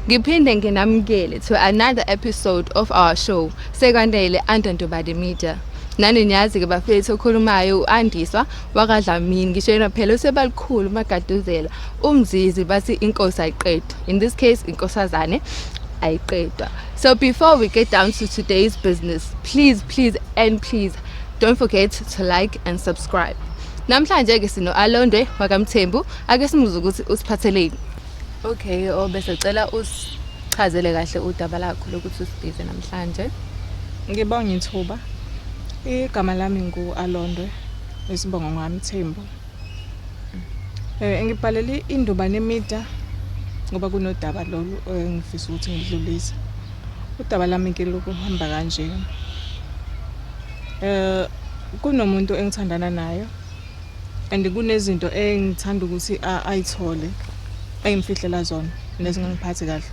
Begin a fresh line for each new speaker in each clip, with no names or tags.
Ngiphinde nginamukele to another episode of our show Sekwanele under Ntobade Media. Nani niyazi ke bafethu okhulumayo uAndiswa wakadlamini ngisho yena phela usebalikhulu magaduzela umzizi bathi inkosi ayiqedwa in this case inkosazane ayiqedwa so before we get down to today's business please please and please don't forget to like and subscribe namhlanje ke sino Alondwe wakamthembu ake simuze ukuthi usiphatheleni Okay, oh bese cela usichazele kahle udaba lakho lokuthi usibhize namhlanje. Ngibonga
ithuba. Igama lami ngu Alondwe isibongo ngami Thembu. Eh ngibhalele induba nemida ngoba kunodaba lolu engifisa ukuthi ngidlulise. Udaba lami ke lokuhamba kanje. Eh kunomuntu engithandana nayo and kunezinto engithanda ukuthi ayithole engimfihlela zona nezingangiphathi kahle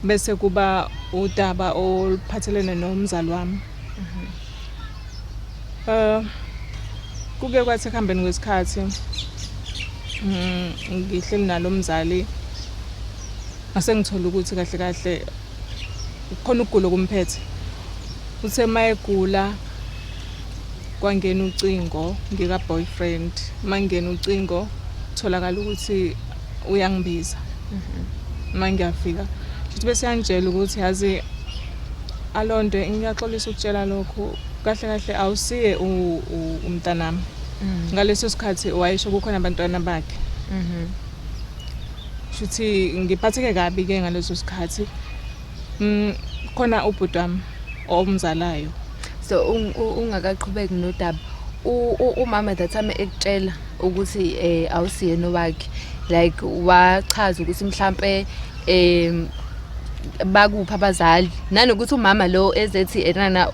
bese kuba udaba oluphathelene nomzali wami mhm. eh kuke kwathi kuhambeni kwesikhathi mm, ngihleli nalo mzali asengithola ukuthi kahle kahle kukhona ukugula okumphethe uthe uma egula kwangena ucingo ngika-boyfriend uma ngingena ucingo kutholakala ukuthi uyangibiza uma mhm. ngiyafika futhi bese yangitshela ukuthi yazi alonto ngiyaxolisa ukutshela lokhu kahle kahle awusiye umntanami mm. ngaleso sikhathi wayesho kukhona abantwana bakhe mhm. Shuthi ngiphatheke kabi ke ngaleso sikhathi. Mm khona ubhuti wami omzalayo. So
ungakaqhubeki nodaba. umama that time ekutshela ukuthi eh awusiyena owakhe like wachaza ukuthi mhlambe em bakuphi abazali nanokuthi umama lo ezethi enana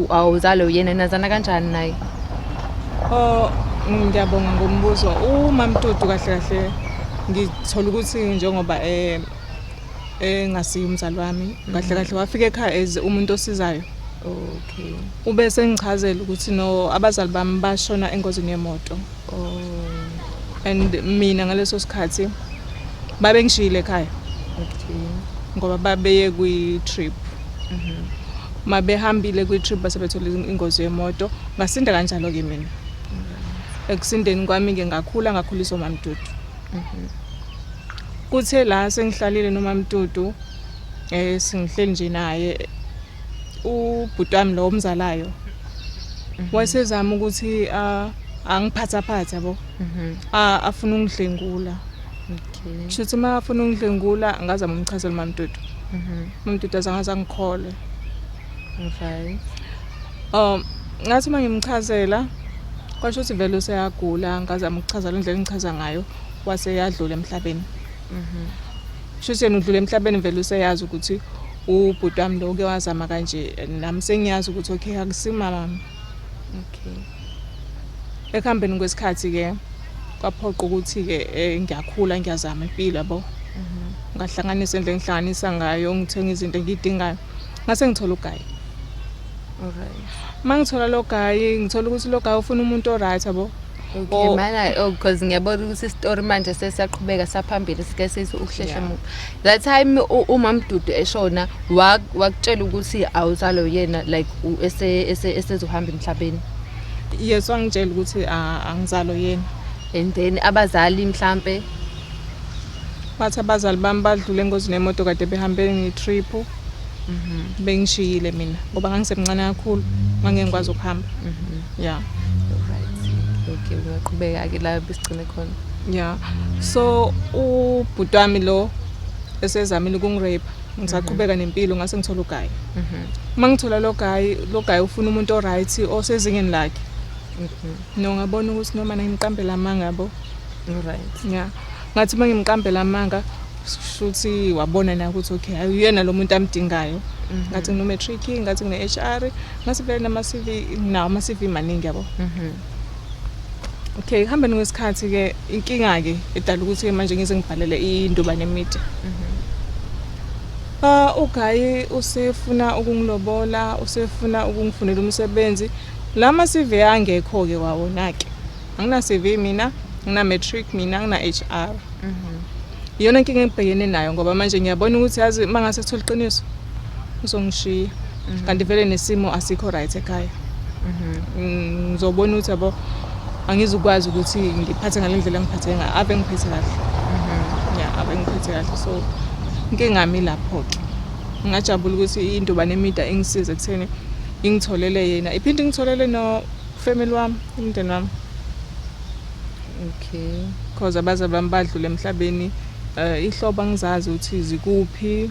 awuzalo yena nazana kanjani naye oh
ngiyabonga ngombuzo umamtudu kahle kahle ngithola ukuthi njengoba eh engasiyi umzali wami kahle kahle wafika ekhaya as umuntu osizayo okay
ube
sengichazela ukuthi no abazali bami bashona engozini yemoto Oh. And mina ngaleso sikhathi babe ngishiyile ekhaya. Okay.
Ngoba babeye
kwi trip. Mhm. Mm Mabehambile kwi trip base bethola ingozi yemoto, ngasinda kanjalo ke mina. Ekusindeni kwami ke ngakhula ngakhuliswa mamdudu. Mhm. Kuthe la sengihlalile nomamdudu eh singihleli nje naye ubhuti wami lo omzalayo. Mhm. Wasezama ukuthi a ah, angiphathaphatha bo mhm. afuna ungidlengula okay
shuthi uma afuna
ungidlengula ngazama umchazela mamdudu mhm. mamdudu azangaza ngikhole
okay
um ngathi uma ngimchazela kwasho ukuthi vele useyagula ngazama ukuchaza le ndlela engichaza ngayo wase yadlula emhlabeni mhm shuthi yena udlule emhlabeni vele useyazi ukuthi ubhuti wami lo uke wazama kanje nami sengiyazi ukuthi okay akusimama
okay
ekuhambeni kwesikhathi ke kwaphoqa ukuthi ke eh, ngiyakhula ngiyazama impilo yabo mhm. ngahlanganisa into engihlanganisa ngayo ngithenga izinto engidingayo ngase ngithola ugayi okay
mangithola
lo gayi ngithola ukuthi lo gayi ufuna umuntu oright yabo Okay, oh. mana
oh because ngiyabona ukuthi story manje sesiyaqhubeka saphambili sike sithi ukuhlehla yeah. that time uma mdudu eshona wakutshela ukuthi awuzalo yena like ese esezohamba emhlabeni yes
wangitshela ukuthi angizalo yena and then
abazali mhlambe
bathi abazali bami badlule engozini yemoto kade behambe ngetrip mhm. bengishiyile mina ngoba ngangisemncane kakhulu ngangengikwazi ukuhamba mhm. yeah
okay ungaqhubeka ke la besigcine khona yeah
so ubhuti wami lo esezamile ukungirape ngisaqhubeka mhm. nempilo ngase ngithola ugayi mhm. uma ngithola lo gayi lo gayi ufuna umuntu oright osezingeni lakhe mhm. no ngabona ukuthi noma ngiqambela amanga bo right
yeah ngathi
uma ngimqambela amanga shuthi wabona na ukuthi okay ayuyena lo muntu amdingayo mhm. ngathi ngino matric ngathi ngine HR ngathi vele nama CV nawo ama CV maningi yabo mhm. okay hamba ngesikhathi ke inkinga ke edala ukuthi ke manje ngize ngibhalele induba nemide mhm. ah ugayi usefuna ukungilobola usefuna ukungifunela umsebenzi lama CV angekho ke wawona ke angina CV mina ngina matric mina ngina HR mhm. iyona inkinga engibhekene nayo ngoba manje ngiyabona ukuthi yazi uma ngase thola iqiniso uzongishiya mhm. kanti vele nesimo asikho right ekhaya mhm. mm, ngizobona ukuthi yabo angizukwazi ukuthi ngiphathe ngale ndlela engiphathe ngayo ave ngiphethe kahle ya ave ngiphethe kahle so inkinga mi lapho-ke ngingajabula ukuthi indobane emida ingisize ekutheni ingitholele yena iphinde ingitholele no Family wami, umndeni wami. Okay.
Cause abazali bami
badlule emhlabeni uh, ihlobo angizazi ukuthi zikuphi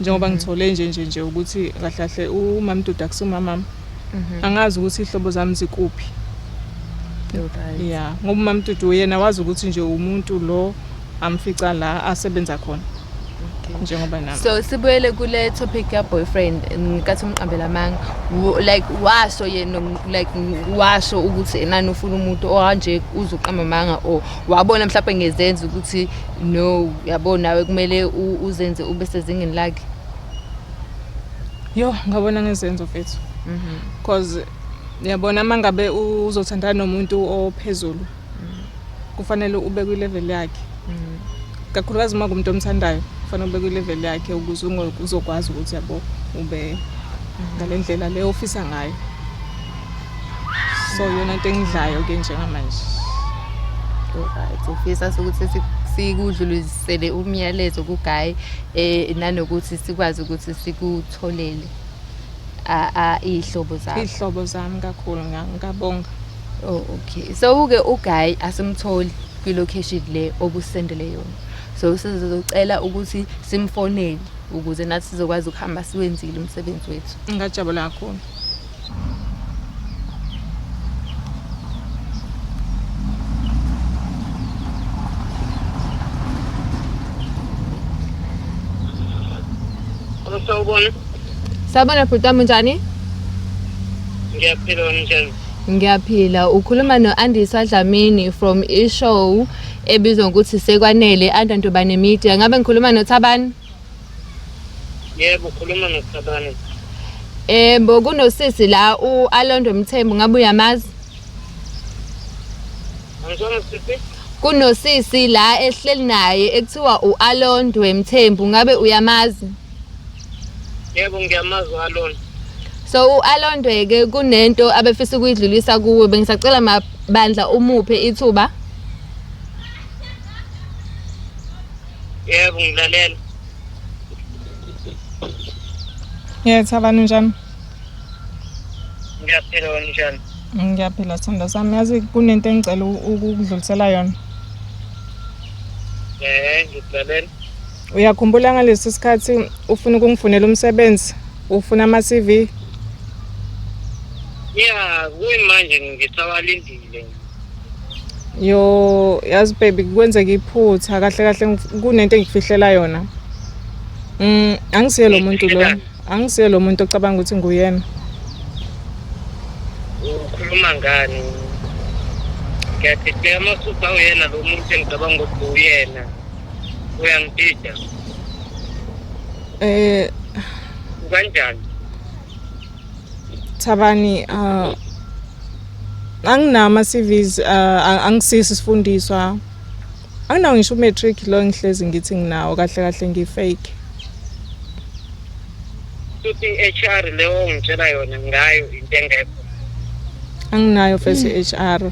njengoba mhm. ngithole nje nje nje ukuthi kahle kahle umamduda kusumamami mhm. angazi ukuthi ihlobo zami zikuphi
yeah ngoba
umamdudu yena wazi ukuthi nje umuntu lo amfica la asebenza khona njengoba nami so sibuyele kule
topic ya boyfriend ngikathi umqambela amanga like washo yena like washo ukuthi enani ufuna umuntu ohanje uzoqamba amanga or wabona mhlawumbe ngezenza ukuthi no yabo nawe kumele uzenze ube sezingeni lakhe yo
ngabona ngezenzo mfethu mhm. cause yabona mangabe uzothandana nomuntu ophezulu kufanele ube kwilevel yakhe mm. kakhulukazi uma kumuntu omthandayo kufanele ube kwilevel yakhe ukuze uzokwazi ukuthi yabo ube mm. ngale ndlela le ofisa ngayo so yona into engidlayo ke njengamanje
right ufisa ukuthi sikudlulisele umyalezo kugayi eh nanokuthi sikwazi ukuthi sikutholele a ihlobo zami ihlobo zami kakhulu
ngiyabonga Oh okay.
So uke uguy asimtholi kwi location le obusendele yona. So sizocela ukuthi simfonele ukuze nathi sizokwazi ukuhamba siwenzile umsebenzi wethu. Ngajabula kakhulu.
Sawubona.
Sawubona
bhuti wami unjani? Ngiyaphila
wena njani? Ngiyaphila
ukhuluma no-Andiswa Dlamini from ishow ebizwa ngokuthi sekwanele Anda Ntobane Media. Ngabe ngikhuluma noThabani? Yebo
ukhuluma noThabani. Yebo kunosisi
la u-Alondo Mthembu ngabe uyamazi?
Angizona sisi. Kunosisi
la ehleli naye ekuthiwa u-Alondwe Mthembu ngabe uyamazi?
Yebo ngiyamazi uAlon. So
uAlon Dweke kunento abefisa ukuyidlulisa kuwe bengisacela mabandla umuphe ithuba.
Yebo ngilalela.
Yes, abantu njani? Ngiyaphila
wena njani? Ngiyaphila sithanda
sami. Yazi kunento engicela ukudlulisela yona. Eh,
ngilalela. Uyakhumbula
ngalesi sikhathi ufuna ukungifunela umsebenzi, ufuna ama-CV?
Ya, kuyimanje ngisawalindile. Yo,
yazi baby kwenzeka iphutha kahle kahle ngif- kunento engikufihlela yona. Mm, angisiye lo muntu lo. Angisiye lo muntu ocabanga ukuthi nguyena.
Ukhuluma ngani? Ngiyadideka masuthi awuyena lo muntu engicabanga ukuthi uyena. uyangidida eh kanjani
Thabani uh anginama CVs uh, angisisi sifundiswa anginawo ngisho matric lo ngihlezi ngithi nginawo kahle kahle ngifake futhi
HR leyo ngitshela yona ngayo into engekho
anginayo face HR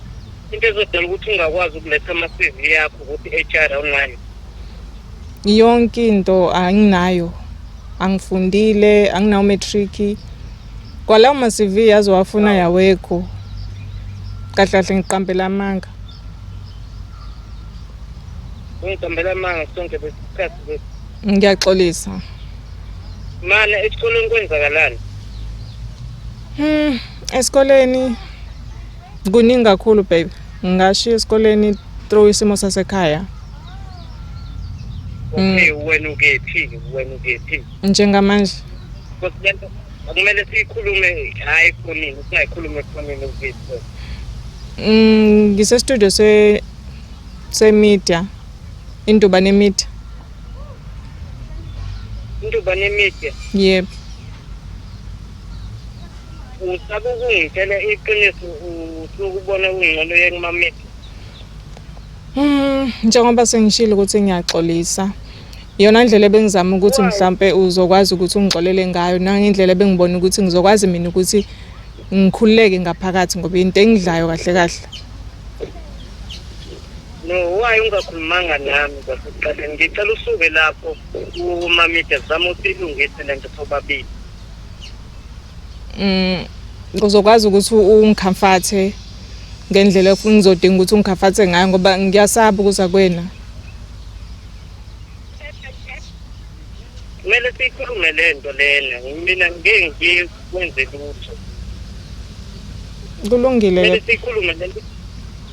into ezodala ukuthi ungakwazi ukuletha ama-cv yakho ukuthi i-hr awunayo
yonke into anginayo angifundile anginawo matric kwalawo ma-cv azowafuna yawekho kahle kahle ngiqambela amanga
ungiqambela amanga sonke besikhathi ngiyaxolisa mana esikoleni kwenzakalani hmm
esikoleni Kuningi kakhulu baby. Ngashiya esikoleni through isimo sasekhaya. Okay,
mm. wena ukephi? Wena ukephi? Njengamanje.
Kodwa
kumele sikhulume hayi khonini, singayikhulume khonini ukephi. Mm, ngise
studio se se media. Induba ne media.
Induba ne media. Yep. Usaba ukungitshela iqiniso usukubona kungcono yekumamisa. Mm,
njengoba sengishilo ukuthi ngiyaxolisa. Iyona ndlela ebengizama ukuthi mhlambe uzokwazi ukuthi ungixolele ngayo nangendlela ebengibona ukuthi ngizokwazi mina ukuthi ngikhululeke ngaphakathi ngoba into engidlayo kahle kahle.
No, why ungakhulumanga nami kwasekuqaleni? Ngicela usuke lapho umamide zama usilungise lento sobabili. mm
uzokwazi ukuthi ungikhamfathe ngendlela engizodinga ukuthi ungikhamfathe ngayo ngoba ngiyasaba ukuza kwena
kumele siyikhulume le nto lena mina ngeke ngiye kwenze lutho
kulungile kumele siyikhulume le nto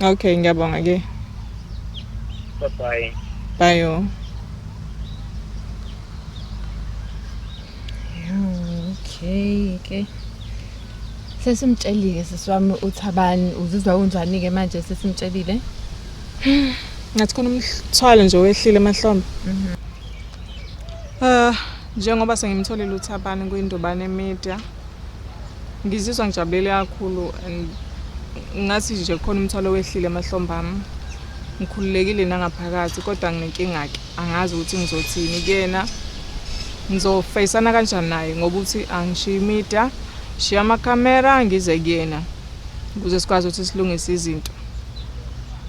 okay
ngiyabonga ke bye bye
bye yo
okay
ke sesimtshelile sisi wami uthi abani uzizwa unjani ke manje sesimtshelile
ngathi khona umthwalo nje wehlile emahlombe mhm. ah njengoba sengimtholile uthi abani kuyindubane media Ngizizwa ngijabulele kakhulu and ngathi nje khona umthwalo wehlile emahlombe ami ngikhululekile nangaphakathi kodwa nginenkinga-ke angazi ukuthi ngizothini kuyena ngizofeyisana kanjani naye ngoba uthi angishiye imida shiya amakamera ngize kuyena ukuze sikwazi ukuthi silungise izinto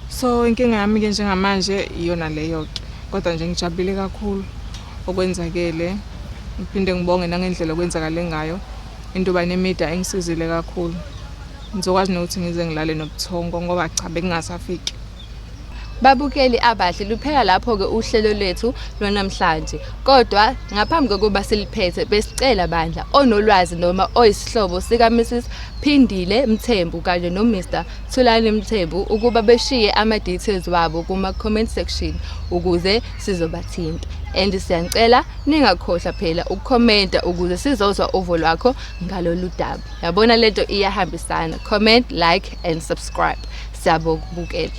so inkinga yami-ke njengamanje iyona leyo-ke kodwa nje ngijabulile kakhulu okwenzakele ngiphinde ngibonge nangendlela okwenzakale ngayo into yoba nemida engisizile kakhulu ngizokwazi nokuthi ngize ngilale nobuthongo ngoba cha bekungasafiki
Babukeli abahle luphela lapho-ke uhlelo lwethu lwanamhlanje. Kodwa ngaphambi kokuba siliphethe besicela bandla onolwazi noma oyisihlobo sika Mrs Phindile Mthembu kanye no Mr Thulani Mthembu ukuba beshiye ama details wabo kuma comment section ukuze sizobathinta and siyanicela ningakhohlwa phela ukukhomenta ukuze sizozwa uvo lwakho ngalolu daba yabona lento iyahambisana comment like and subscribe siyabokubukela